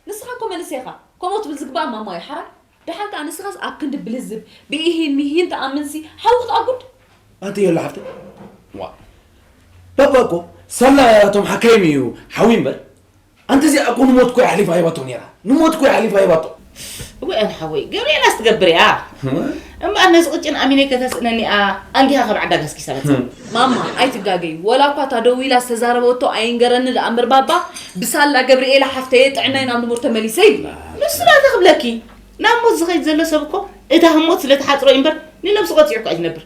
ንስኻ እኮ መንእሰይ ኢኻ ከምኡ ትብል ዝግባእ ማማ እዩ ሓራይ ደሓን ከኣ ንስኻስ ኣብ ክንዲ ብልዝብ ብኢሂን ሚሂን ትኣምንሲ ሓዊ ክትኣጉድ ኣንቲ የላ ሓፍተይ ዋ ባባ እኮ ሰላ እቶም ሓካይም እዩ ሓዊ እምበር ኣንቲ እዚኣ እኮ ንሞት እኮ ኣሕሊፋ ሂባቶ ነይራ ንሞት እኮ ኣሕሊፋ ሂባቶ እወ ኣነ ሓወይ ገብርኤላስ ትገብር እያ እምበኣር ነዚ ቅጭን ኣሚነይ ከተስእነኒ እያ ኣንጊሃ ካብ ዓዳ ገስጊሳ መፅእ ማማ ኣይትጋገይ ወላ እኳ እታ ደው ኢላ ዝተዛረበቶ ኣይንገረኒ ደኣ እምበር ባባ ብሳላ ገብርኤላ ሓፍተየ ጥዕናይ ናብ ንቡር ተመሊሰ ይብላ ንሱ ናተ ክብለኪ ናብ ሞት ዝኸይድ ዘሎ ሰብ እኮ እታ ህሞት ስለ ትሓፅሮ እዩ እምበር ንነብሱ ቀፂዑ እኳ እዩ ዝነብር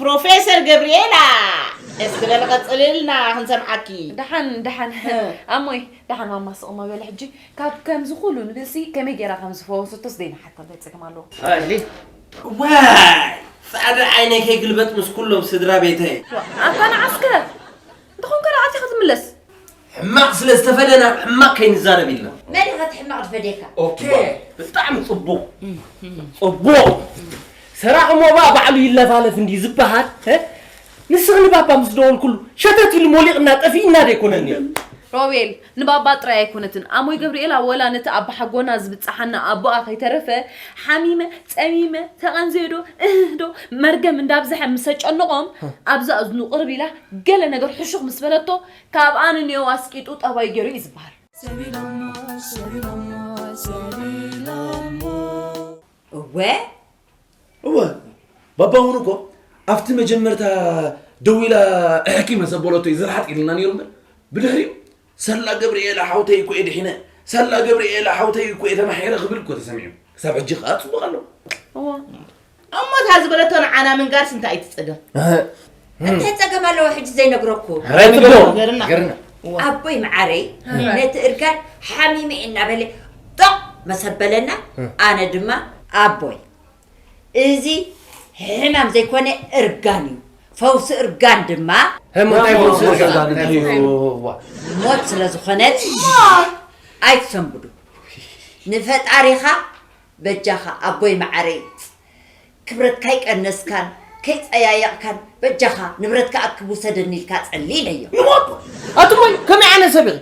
ፕሮፌሰር ገብሪኤላ እስኪ በሊ ቀፅልልና ክንሰምዓኪ። ደሓን ደሓን ኣሞይ ደሓን ማማ ስቕ እሞ በሊ ሕጂ ካብ ከምዚ ኩሉ ንብሲ ከመይ ጌራ ከም ዝፈወሰቶ ስደይ ንሓቶ እንታይ ጸገም ኣለዎ? ኣሊ ዋይ ጻዕዳ ዓይነይ ከይግልበጥ ምስ ኩሎም ስድራ ቤተይ። ኣታ ንዓስከ እንተኾንካ ደኣ ኣቲኻ ትምለስ። ሕማቅ ስለ ዝተፈደና ብ ሕማቅ ከይንዛረብ ኢልና። መን ኢኻ እቲ ሕማቅ ዝፈደየካ? ኦኬ ብጣዕሚ ጽቡቅ ጽቡቅ ሰራቂ ሞባ ባዕሉ ይለፋለፍ እንድዩ ዝበሃል እ ንስኺ ንባባ ምስ ደወልኩሉ ሸተት ኢሉ ሞሊቕና ጠፊእና ደይኮነን ነይሩ ሮቤል ንባባ ጥራይ ኣይኮነትን ኣሞይ ገብርኤላ ወላ ነቲ ኣባሓጎና ዝብጽሓና ኣቦኣ ከይተረፈ ሓሚመ ጸሚመ ተቐንዘዮዶ እህህዶ መርገም እንዳብዝሐ ምስ ኣጨንቖም ኣብዛ እዝኑ ቅርብ ኢላ ገለ ነገር ሕሹኽ ምስ በለቶ ካብኣ ንንዮው ኣስቂጡ ጠባይ ገይሩ እዩ ዝበሃል። እወ። እወ ባባ ውን እኮ ኣብቲ መጀመርታ ደው ኢላ እሕኪ መሰ በለቶ እዩ ዝርሓጥ ኢልና ነይሩ እምበር ብድሕሪኡ ሳላ ገብርኤላ ሓውተይ እኮ እየ ድሒነ ሳላ ገብርኤላ ሓውተይ እኮ እየ ተማሒረ ክብል እኮ ተሰሚዑ ክሳብ ሕጂ ከዓ ፅቡቅ ኣሎ እወ እሞ እታ ዝበለቶ ንዓና ምንጋርስ እንታይ እዩ ትጸገም እንታይ ጸገም ኣለዎ ሕጂ ዘይነግረኩ ኣቦይ መዓረይ ነቲ እርጋን ሓሚመ እናበለ ጦቕ መሰበለና ኣነ ድማ ኣቦይ እዚ ሕማም ዘይኮነ እርጋን እዩ ፈውሲ እርጋን ድማ ሞት ስለ ዝኾነት ኣይትሰንብዱ ንፈጣሪኻ በጃኻ ኣቦይ መዓረይ ክብረትካ ኣይቀነስካን ከይጸያየቕካን በጃኻ ንብረትካ ኣክብ ውሰደኒ ኢልካ ጸሊ ኢለዮ። ንሞት ኣቱመይ ከመይ ዓይነት ሰብ ኢኺ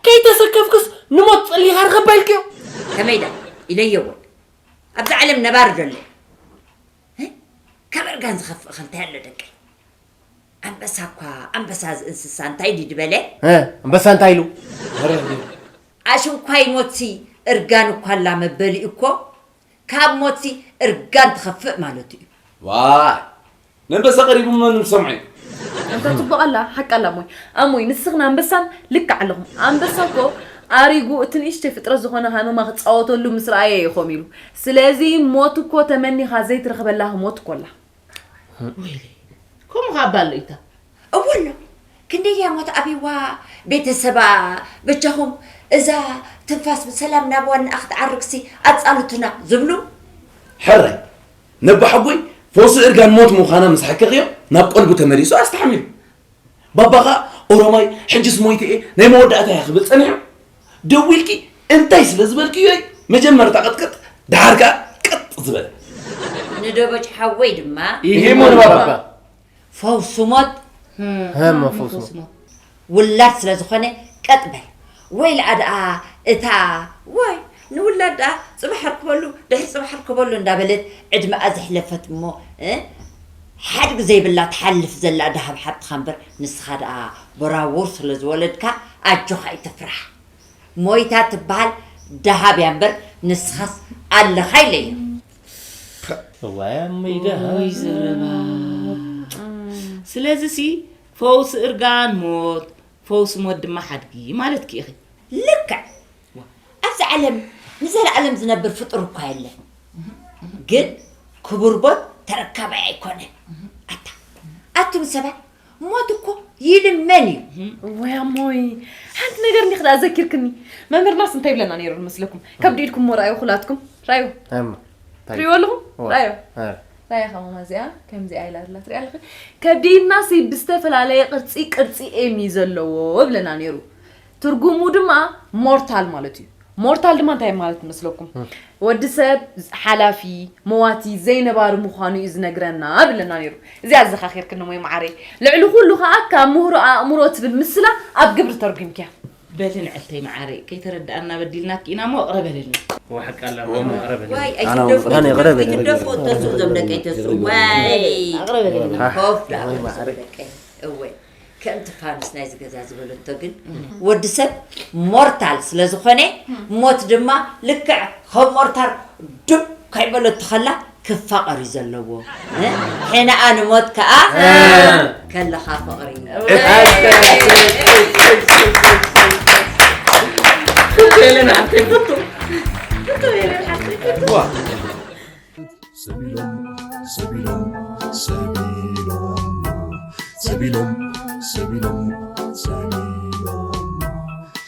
ከይተሰከፍክስ ንሞት ጸሊኻ ርኸባ ኢልክዮ። ከመይ ደኣ ኢለዮ እወ ኣብዚ ዓለም ነባሪ ዶ ኣሎ ካብ እርጋን ዝኸፍእ ኸ እንታይ ኣሎ ደቀይ። ኣንበሳ እኳ ኣንበሳ እዚ እንስሳ እንታይ ድዩ ድበለ? እ፣ ኣንበሳ እንታይ ኢሉ? መረር ዲዩ? ኣሽንኳይ ሞትሲ እርጋን እኳ ኣላ መበሊ እኮ ካብ ሞትሲ እርጋን ትኸፍእ ማለቱ እዩ። ዋይ ነንበሳ ቀሪቡ መን ሰምዖ እዩ? ኣንታ ጽቡቕ ኣላ ሓቂ ኣላ እሞ ኣሞይ ንስኽን ኣንበሳን ልክዕ ኣለኹም ኣንበሳ እኮ ኣሪጉ እቲ ንእሽተይ ፍጥረት ዝኾነ ሃመማ ክጻወተሉ ምስ ረኣየ እዩ ኮም ኢሉ ስለዚ ሞት እኮ ተመኒኻ ዘይትረኽበላ ህሞት እኮ ኣላ ወይለይ ከምኡ ከ ኣባ ኣሎ ኢታ እወ ኣሎ ክንደይ ድያ እሞ ተኣቢዋ ቤተሰባ በጃኹም እዛ ትንፋስ ብሰላም ናብ ዋንኣ ክትዓርግሲ ኣፃልቱና ዝብሉ ሕራይ ነባሓጎይ ፈውሲ እርጋን ሞት ምዃና ምስ ሓከኽዮ ናብ ቀልቡ ተመሊሱ ኣስተሓሚሙ ባባ ከኣ ኦሮማይ ሕጅስ ሞይተ እየ ናይ መወዳእታ እየ ክብል ጸኒሑ ደዊልኪ እንታይ ስለ ዝበልክዮ እዩ መጀመርታ ቅጥቅጥ ደሓር ከኣ ቅጥ ዝበለ ንደበጭ ሓወይ ድማ ይሂሞ ንባባ ፈውሱ ሞት ውላድ ስለ ዝኾነ ቀጥ በል ወይ ልኣ ድኣ እታ ዋይ ንውላድ ድኣ ጽባሕ ኣርክበሉ ድሕሪ ጽባሕ ኣርክበሉ እንዳበለት ዕድመኣ ዘሕለፈት እሞ ሓድግ ዘይብላ ትሓልፍ ዘላ ድሃብ ሓብትኻ እምበር ንስኻ ድኣ ቦራቡር ስለ ዝወለድካ ኣጆኻ ኣይትፍራሕ ሞይታ ትብሃል ድሃብ እያ እምበር ንስኻስ ኣለኻ ኢለዮም። ፐእ እዋይ ኣሙይ ደሃብ። ኡይ ዘረባ ስለዚሲ ፈውሲ እርጋን ሞት ፈውሲ ሞት ድማ ሓድጊ ማለትኪ ኢኺ። ልክዕ! ኣብዚ ዓለም ንዘለኣለም ዝነብር ፍጡር እኳ የለን፣ ግን ክቡር ሞት ተረካባይ ኣይኮነን። ኣታ ኣቱም ሰባት ሞት እኮ ይልመን እዩ። ወይ ኣሞይ ሓንቲ ነገር እንዲኽ ደኣ ዘኪርክኒ መምህርናስ እንታይ ይብለና ነይሩ ንመስለኩም ከብዲ ኢድኩም ሞ ራእዩ ኩላትኩም ራእዩ ትሪእዎ ኣለኹም ራእዩ ራያ ከማማ እዚኣ ከምዚኣ ኢላ ዘላ ትሪኣ ኣለኺ ከብዲና ሲ ብዝተፈላለየ ቅርጺ ቅርጺ ኤም እዩ ዘለዎ እብለና ነይሩ ትርጉሙ ድማ ሞርታል ማለት እዩ ሞርታል ድማ እንታይ ማለት መስለኩም ወዲ ሰብ ሓላፊ መዋቲ ዘይነባሪ ምዃኑ እዩ ዝነግረና ብለና ነይሩ እዚኣ ኣዘኻኺርክኒ ሞይ መዓረይ ልዕሊ ኩሉ ከዓ ካብ ምህሮ ኣእምሮ ትብል ምስላ ኣብ ግብሪ ተርጒምክያ በሊ ንዕልተይ መዓረይ ከይተረዳኣና በዲልናኪ ኢና እሞ እቕረ በልልና። ወሓቂ ኣላ ማማ እቕረ በልልና። ዋይ ኣይትደፍኡ ኣነ ይቕረ በልልና። ኣይትደፍኡ ተስኡ እዞም ደቀይ ተስኡ ዋይ ኣቕረ በልልና። ኮፍ ደኣ በሉ እዞም ደቀይ እወ ከምቲ ፋኑስ ናይዚ ገዛ ዝበለቶ ግን ወዲ ሰብ ሞርታል ስለ ዝኾነ ሞት ድማ ልክዕ ከም ሞርታር ዱብ ከይበለቶ ከላ ክፋቀር እዩ ዘለዎ ሕነኣ ንሞት ከኣ ከለኻ ፍቅሪ ሄለን ሓፍተይ ፍቱ ሰቢሎም ሰቢሎም ሰቢሎም ሰቢሎም